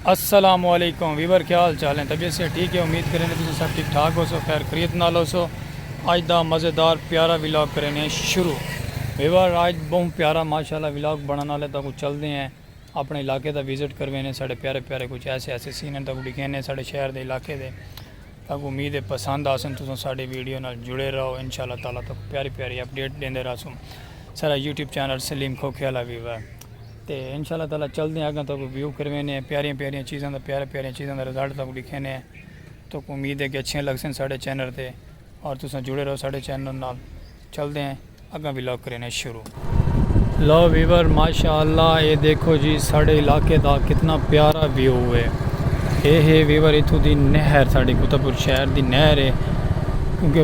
السلام علیکم ویور کیا حال چال ہیں طبیعت سے ٹھیک ہے امید کرینے تساں سب ٹھیک ٹھاک ہو سو خیر خریت نال ہو سو اج دا مزیدار پیارا ولاگ کرینے شروع ویور اج بہوں پیارا ماشاءاللہ ولاگ بنانا لے تاکو چل دے ہیں اپنے علاقے دا وزٹ کروینے ساڑے پیارے پیارے کچھ ایسے ایسے سین ہیں تاکو ڈکھینے ساڑے شہر دے علاقے دے تاکو امید ہے پسند آسن تساں ساڑے ویڈیو نال جڑے رہو انشاءاللہ تعالی تاکو پیاری پیاری اپڈیٹ دیندے رہا سن سارا یوٹیوب چینل سلیم کھوکھے والا ویور تے انشاء اللہ تعالی چلدے آں اگاں تہاکوں ویو کروینے ہیں پیاریاں پیاریاں چیزاں دا پیارے پیارے چیزاں دا رزلٹ تہاکوں ڈکھینے ہیں تہاکوں امید ہے کہ اچھیاں لگسن ساڈے چینل تے اور تساں جڑے رہو ساڈے چینل نال چلدے ہیں اگاں وی لاگ کرینے شروع لو ویور ماشاءاللہ اے دیکھو جی ساڈے علاقے دا کتنا پیارا ویو ہے اے ہے ویور اتھوں دی نہر ساڈے کتبپور شہر دی نہر ہے کیونکہ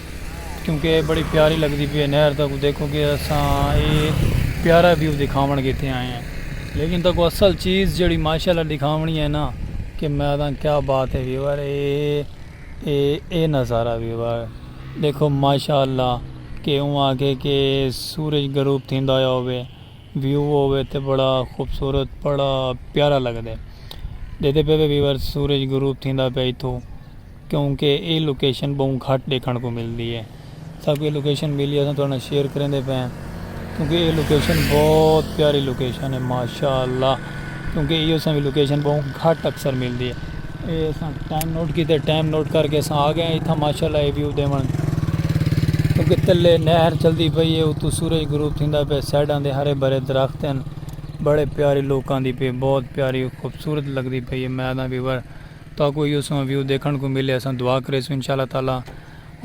کیونکہ اے بڑی پیاری لگدی پی اے نہر تاکوں دیکھو کہ اساں اے پیارا ویو دکھاون کیتے آئے ہیں لیکن تاکوں اصل چیز جیڑی ماشاءاللہ دکھاونی ہے نا کہ میں آدھا کیا بات ہے ویور اے اے اے نظارہ ویور دیکھو ماشاءاللہ کہ اوں آگے کہ سورج گروپ تھیندا ہویا ہوئے ویو ہوئے تے بڑا خوبصورت بڑا پیارا لگدے دیدے پہ ویور سورج گروپ تھیندا پہ ایتھو کیونکہ اے لوکیشن بہوں گھٹ ڈیکھنڑ کوں ملدی ہے ساکوں اے لوکیشن ملی اساں تہاڈے نال شیئر کریندے پئے آں کیونکہ اے لوکیشن بہت پیاری لوکیشن ہے ماشاءاللہ کیونکہ ایہو اساں وی لوکیشن بہوں گھٹ اکثر ملدی ہے اے اساں ٹائم نوٹ کیتے ٹائم نوٹ کر کے اساں آ گئے ایتھاں ماشاءاللہ اے ویو دیون کیونکہ تلے نہر چلدی پئی ہے اتو سورج غروب تھیندا پئے سائیڈاں دے ہرے بھرے درخت ہیں بڑے پیاری لوکاں دی پئے بہت پیاری خوبصورت لگدی پئی ہے میں آدھاں ویور تہاکوں ایہو سواں ویو ڈیکھنڑ کوں ملے اساں دعا کریسوں انشاء اللہ تعالی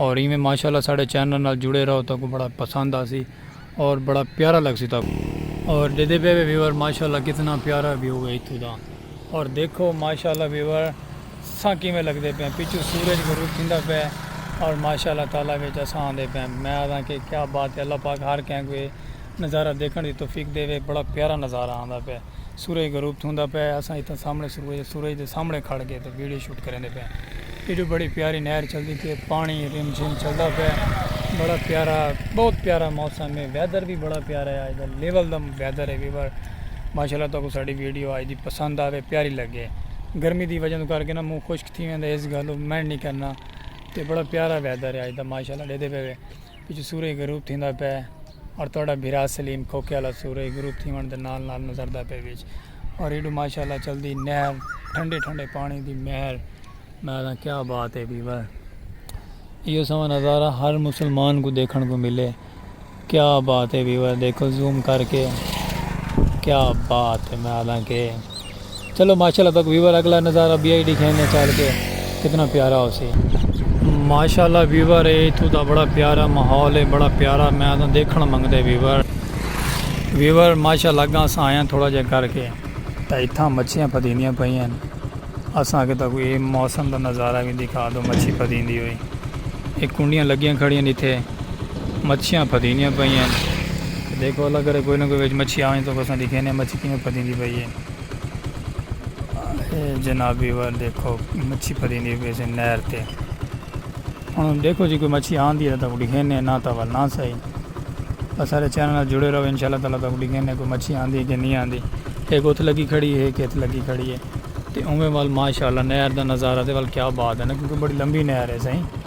اور ایویں ماشاء اللہ ساڈے چینل نال جڑے رہو تہاکوں بڑا پسند آسی اور بڑا پیارا لگسی تہاکوں۔ اور ڈیدھے پے وے ویور ماشاء اللہ کتنا پیارا ویو ہے اتھوں دا اور دیکھو ماشاء اللہ ویور ساں کیویں لگدے پے ہیں پچھوں سورج غروب تھیندا پے ہے اور ماشاء اللہ تعالی وچ اساں آندے پے ہیں میں آکھاں کہ کیا بات ہے اللہ پاک ہر کہیں کوئی نظارہ ڈیکھنڑ دی توفیق ڈیوے بڑا پیارا نظارہ آندا پے ہے۔ سورج غروب تھوندا پئے اساں اتھاں سامنے سورج دے سامنے کھڑ کے تے ویڈیو شوٹ کریندے پئے آں ایڈو بڑی پیاری نہر چلدی پئی ہے پانی رم جھم چلدا پئے بڑا پیارا بہت پیارا موسم ہے ویدر بھی بڑا پیارا ہے اج دا لیول دا ویدر ہے ویور ماشاءاللہ تاکو ساڈی ویڈیو اج دی پسند آوے پیاری لگے گرمی دی وجہ کر کے نا منہ خشک تھی ویندا ہے اس گل مینڈ نہیں کرنا تے بڑا پیارا ویدر ہے اج دا ماشاءاللہ ڈیدے پئے وچ سورج غروب تھیندا پئے اور تہاڈا بھرا سلیم کھوکھے آلا سورج غروب تھیوݨ دے نال نال نظردا پئے وچ اور ایڈو ماشاءاللہ چلدی نہر ٹھنڈے ٹھنڈے پانی دی نہر میں آکھاں کیا بات ہے بھی بھائی ایو سوا نظارہ ہر مسلمان کو دیکھن کو ملے کیا بات ہے ویور دیکھو زوم کر کے کیا بات ہے میں آدھا کہ چلو ماشاءاللہ تک ویور اگلا نظارہ بی آئی ڈکھائیں نے چال کے کتنا پیارا ہو سی۔ ماشاءاللہ ویور اے اتھو دا بڑا پیارا ماحول اے بڑا پیارا میں آدھا دیکھن منگ دے ویور۔ ویور ماشاءاللہ اگاں اساں آیاں تھوڑا جا کر کے تاں اتھاں مچھیاں پھدیندیاں پئیں ہیں اساں اگے تاں کوئی موسم دا نظارہ بھی دکھا دو مچھی پھدیندی ہوئی اے کنڈیاں لگیاں کھڑیاں نے تھے مچھیاں پھدیندیاں پئیں ہیں دیکھو اللہ کرے کوئی نہ کوئی وچ مچھی آویں تو اساں دکھیں نے مچھی کیوں پھدیندی پئی ہے۔ جنابی ور دیکھو مچھی پری نہیں بھی سے نہر تے ہن دیکھو جی کوئی مچھی آن دی ہے تو اڑی گھنے نہ تو ول نہ سہی بس سارے چینل جڑے رہو انشاءاللہ تعالی تو اڑی گھنے کوئی مچھی آن دی ہے کہ نہیں آن دی ہے گوتھ لگی کھڑی ہے کیتھ لگی کھڑی ہے تے اوہ ول ماشاءاللہ نہر دا نظارہ تے ول کیا بات ہے نا کیونکہ بڑی لمبی نہر ہے سہی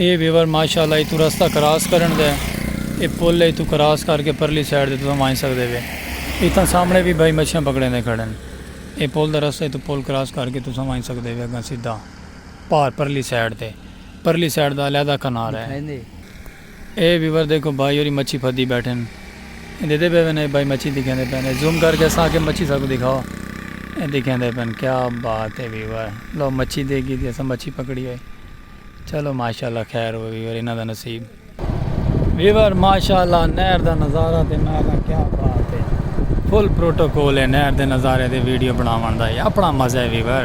اے ویور ماشاءاللہ ایتھوں رستہ کراس کرݨ دا ہے۔ اے پل ہے ایتھوں کراس کر کے پرلی سائیڈ تے تساں ونڄ سڳدے وے۔ اتھاں سامݨے وی بھائی مچھیاں پکڑیندے کھڑن۔ اے پل دا رستہ ایتھوں پل کراس کر کے تساں ونڄ سڳدے وے اڳاں سدھا پار پرلی سائیڈ تے پرلی سائیڈ دا علیحدہ کنارہ ہے۔ اے ویور دیکھو بھائی ہوری مچھی پھدی بیٹھن اے دیدے پئے پن اے بھائی مچھی دکھیندے پن اے زوم کر کے اساں آکھیا مچھی ساکوں دکھاؤ اے دکھیندے پن کیا بات اے ویور لو مچھی دے گی دی اساں مچھی پکڑی ہوئی چلو ماشاءاللہ خیر ہوئے ویور انہاں دا نصیب۔ ویور ماشاءاللہ نہر دا نظارہ تے میں آکھاں کیا بات اے فل پروٹوکول اے نہر دے نظارے دی ویڈیو بناون دا اے اپنا مزہ اے ویور۔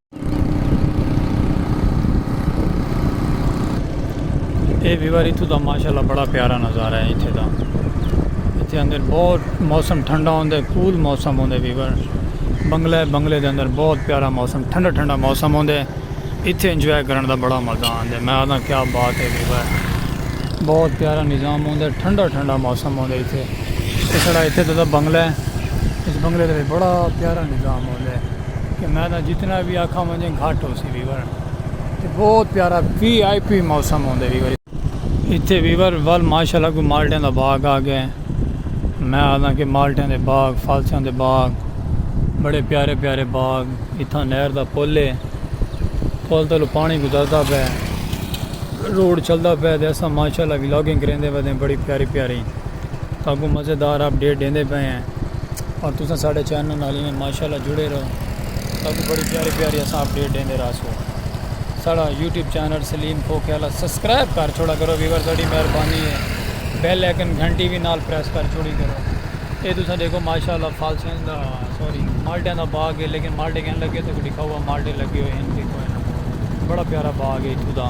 اے ویور اتھو دا ماشاءاللہ بڑا پیارا نظارہ ہے اتھے دا اتھے اندر بہت موسم ٹھنڈا ہوندے کول موسم ہوندے ویور بنگلہ ہے بنگلے دے اندر بہت پیارا موسم ٹھنڈا ٹھنڈا موسم ہوندے اتھے انجوائے کرن دا بڑا مزہ آندے میں آدھا کیا بات ہے ویور بہت پیارا نظام ہوندے ٹھنڈا ٹھنڈا موسم ہوندے اتھے اس طرح اتھے دا بنگلہ ہے اس بنگلے دے بڑا پیارا نظام ہوندے کہ میں تاں جتنا وی آکھاں ونجے گھٹ ہوسی ویور تے بہت پیارا وی آئی پی موسم ہوندے ویور ایتھے ویور ول ماشاءاللہ کوئی مالٹیاں دا باغ آ گئے میں آدھاں کہ مالٹیاں دے باغ فالسیاں دے باغ بڑے پیارے پیارے باغ اتھاں نہر دا پل ہے پل تلو پانی گزردا پے روڈ چلدا پے تے اساں ماشاءاللہ ولاگنگ کریندے ودے بڑی پیاری پیاری تاکوں مزیدار اپ ڈیٹ ڈیندے پے ہیں اور تساں ساڑے چینل نال ایویں ماشاءاللہ جڑے رہو تاکہ بڑی پیاری پیاری اساں اپڈیٹ ڈیندے رہسوں ساڑا یوٹیوب چینل سلیم کھوکھے والا سبسکرائب کر چھوڑا کرو ویور تہاڈی مہربانی ہے بیل آئیکن گھنٹی بھی نال پریس کر چھوڑی کرو اے تساں دیکھو ماشاءاللہ فالسیاں دا سوری مالٹیاں دا باغ ہے لیکن مالٹے کہن لگے تو کو دکھاؤ مالٹے لگے ہوئے ہیں دیکھو ہے نا بڑا پیارا باغ ہے اتھوں دا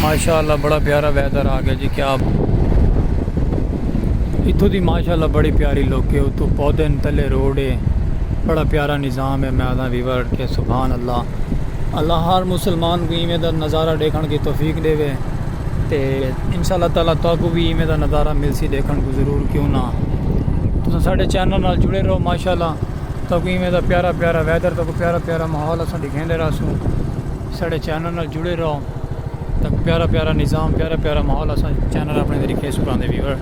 ماشاءاللہ بڑا پیارا ویدر آ گیا جی کیا اتھو دی ماشاءاللہ بڑی پیاری لوکے اتھو پودے تلے روڈ ہے بڑا پیارا نظام ہے میں آدھا ویور کے سبحان اللہ اللہ ہر مسلمان کو ایویں دا نظارہ دیکھن کی توفیق دے وے تے انشاءاللہ تعالی تو کو بھی ایویں دا نظارہ مل سی دیکھن کو ضرور کیوں نہ تساں ساڈے چینل نال جڑے رہو ماشاءاللہ تو کو ایویں دا پیارا پیارا ویدر تو کو پیارا پیارا ماحول اساں دکھیندے رہسوں ساڑے چینل نال جڑے رہو تاں پیارا پیارا نظام پیارا پیارا ماحول اساں چینل اپنے دے ریکھے سکھاں دے ویور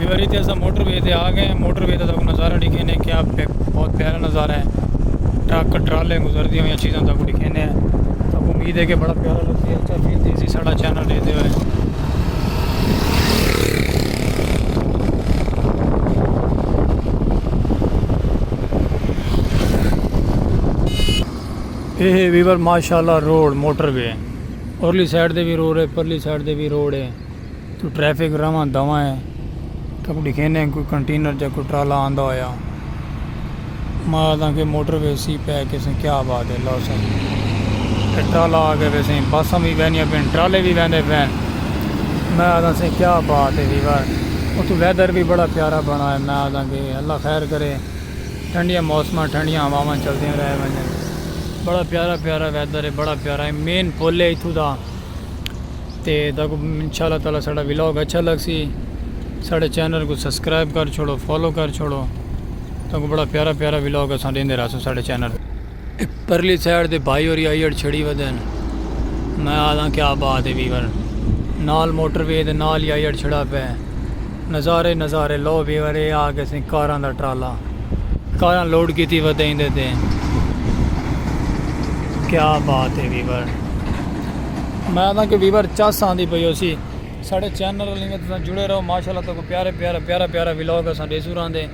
واری تے اسا موٹر وے تے آ گئے موٹر وے دا تاکو نظارہ ڈکھینے کیا بہت پیارا نظارہ ہے ٹرک ٹرالے گزر دی ہوئی چیزاں تاکو ڈکھینے ہیں تاکو امید ہے کہ بڑا پیارا لگ دی ہے اچھا فیل دی سی ساڑا چینل دے دے ہوئے اے ہے ویور ماشاءاللہ روڈ موٹر وے ارلی سائیڈ دے وی روڈ ہے پرلی سائیڈ دے وی روڈ ہے تو ٹریفک رواں دواں ہے تاں کوئی ڈیکھے نیں کوئی کنٹینر جا کوئی ٹرالا آندہ ہویا ماں آدھاں کہ موٹر وے سی پہ کے سن کیا بات ہے لو سن ٹرالا آگے وے سن بساں بھی بینیاں پین ٹرالے بھی بیندے پین میں آدھاں سن کیا بات ہے ویور اتھو ویدر بھی بڑا پیارا بنا ہے میں آدھاں کہ اللہ خیر کرے ٹھنڈیاں موسماں ٹھنڈیاں ہواواں چلدیاں رہ ونجن بڑا پیارا پیارا ویدر ہے بڑا پیارا ہے مین پھول ہے اتھو دا تے تاکو انشاءاللہ تعالی ساڑا ولاگ اچھا لگ سی ساڑے چینل کو سبسکرائب کر چھوڑو فالو کر چھوڑو تاکو بڑا پیارا پیارا ولاگ اساں دیندے رہسوں ساڑے چینل۔ پرلی سائیڈ دے بھائی ہوری آئی اڑ چھڑی ودے ہیں میں آدھاں کیا بات ہے ویور نال موٹر وے دے نال ہی آئی اڑ چھڑا پہ نظارے نظارے لو ویور اے آ کے سیں کاراں دا ٹرالا کاراں لوڈ کیتی ودے ہیں دے دے کیا بات ہے ویور میں آدھاں کہ ویور چاس آن دی پہ یو سی ساڑھے چینر لینے تساں جڑے رہو ماشاءاللہ تو کو پیارے پیارے پیارے پیارے ویلوگ اساں دے سوران دے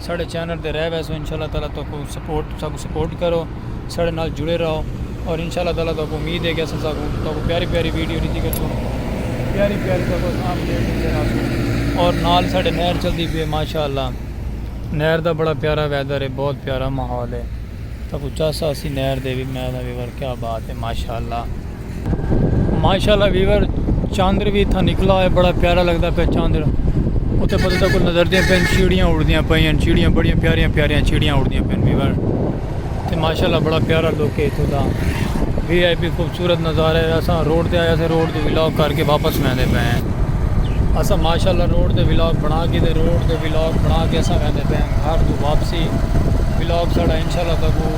ساڈے چینل تے رہ ویسو انشاء اللہ تعالی تہاکوں سپورٹ ساکوں سپورٹ کرو ساڈے نال جڑے رہو اور انشاء اللہ تعالی تہاکوں امید ہے کہ اساں ساکوں تہاکوں پیاری پیاری ویڈیو ڈتی گچھوں پیاری پیاری تہاکوں اساں اپڈیٹ ڈیندے رہسوں اور نال ساڈے نہر چلدی پی ہے ماشاء اللہ نہر دا بڑا پیارا ویدر ہے بہت پیارا ماحول ہے تہاکوں چاسا اسی نہر دے وی میں تہاکوں کیا بات ہے ماشاء اللہ ماشاءاللہ ویور چاندر وی تھا نکلا ہے بڑا پیارا لگتا پہ چاندر اتھے پتہ تھا کوئی نظر دیں پین چیڑیاں اڑ دیاں پہ ہیں چیڑیاں بڑیاں پیاریاں پیاریاں چیڑیاں اڑ دیاں پین ویور تے ماشاءاللہ بڑا پیارا لوک ہے اتھوں دا وی آئی پی خوبصورت نظارہ ہے اساں روڈ تے آیا سے روڈ تے ولاگ کر کے واپس ویندے پے ہیں اساں ماشاءاللہ روڈ تے ولاگ بنا کے تے روڈ تے ولاگ بنا کے اساں ویندے پے ہیں گھر تو واپسی ولاگ ساڑا انشاءاللہ تکو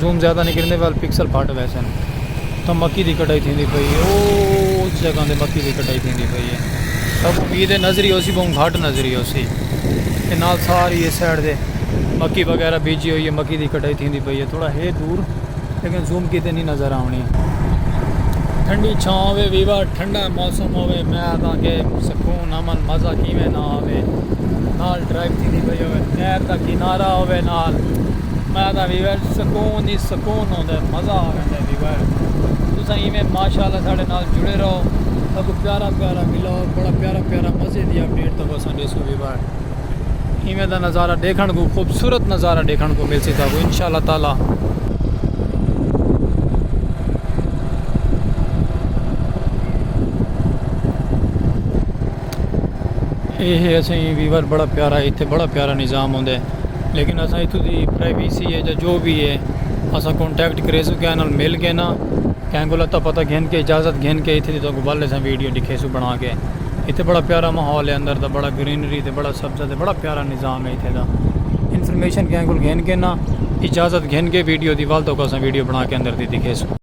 زوم زیادہ نی کریندے ول پکسل پھٹ ویسن تاں مکی دی کٹائی تھیندی پئی اے او اس جگہ تے مکی دی کٹائی تھیندی پئی اے تاں امید اے نظری ہوسی بہوں گھٹ نظری ہوسی تے نال ساری اس سائیڈ تے مکی وغیرہ بیجی ہوئی اے مکی دی کٹائی تھیندی پئی اے تھوڑا ہے دور لیکن زوم کیتے نی نظر آونی ٹھنڈی چھاں ہوے ویوا ٹھنڈا موسم ہوے میں تاں کہ سکون امن مزہ کیویں نہ آوے نال ڈرائیو تھیندی پئی ہوے نہر دا کنارہ ہوے نال میں آدھا ویور سکون ہی سکون ہوندے مزہ آ ویندے ویور تسا ایویں ماشاءاللہ ساڈے نال جڑے رہو اگو پیارا پیارا ولاگ بڑا پیارا پیارا مزے دی اپڈیٹ تو اساں دیسو ویور ایویں دا نظارہ دیکھن کو خوبصورت نظارہ دیکھن کو مل سکتا کو انشاءاللہ تعالی اے ہے اسیں ویور بڑا پیارا ہے تے بڑا پیارا نظام ہوندے لیکن اساں ایتھے دی پرائیویسی ہے یا جو بھی ہے اساں کانٹیکٹ کرے سو کہنا مل کے نا کہیں گولا تاں پتہ گھن کے اجازت گھن کے ایتھے دی تو گبال لے ساں ویڈیو دکھے سو بنا کے ایتھے بڑا پیارا ماحول ہے اندر دا بڑا گرینری تے بڑا سبزہ تے بڑا پیارا نظام ہے ایتھے دا انفرمیشن کہیں گول گھن کے نا اجازت گھن کے ویڈیو دی والتوں کو اساں ویڈیو بنا کے اندر دی دکھے سو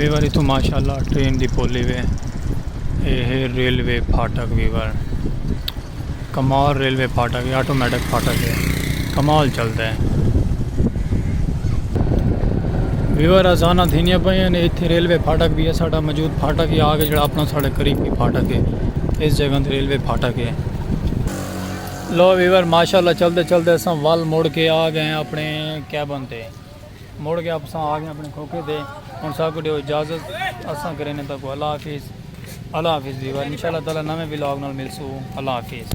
ویور اتو ماشاء اللہ ٹرین دی پولی وے اے ہے ریلوے پھاٹک ویور کمال ریلوے پھاٹک اے آٹومیٹک پھاٹک اے کمال چلدا اے۔ ویور آزانہ تھینیاں پئیاں نے ایتھے ریلوے پھاٹک بھی ہے ساڈا موجود پھاٹک ہی آگے جڑا اپنا ساڈے قریب بھی پھاٹک ہے اس جگہ تے ریلوے پھاٹک ہے۔ لو ویور ماشاءاللہ چلدے چلدے اساں ول مڑ کے آ گئے ہیں اپنے کیبن تے۔ مڑ گیا اساں آ گئے اپنے کھوکھے دے ہن سا کو دیو اجازت اساں کرینے تا کو اللہ حافظ اللہ حافظ ویور انشاءاللہ تعالی نویں ولاگ نال ملسو اللہ حافظ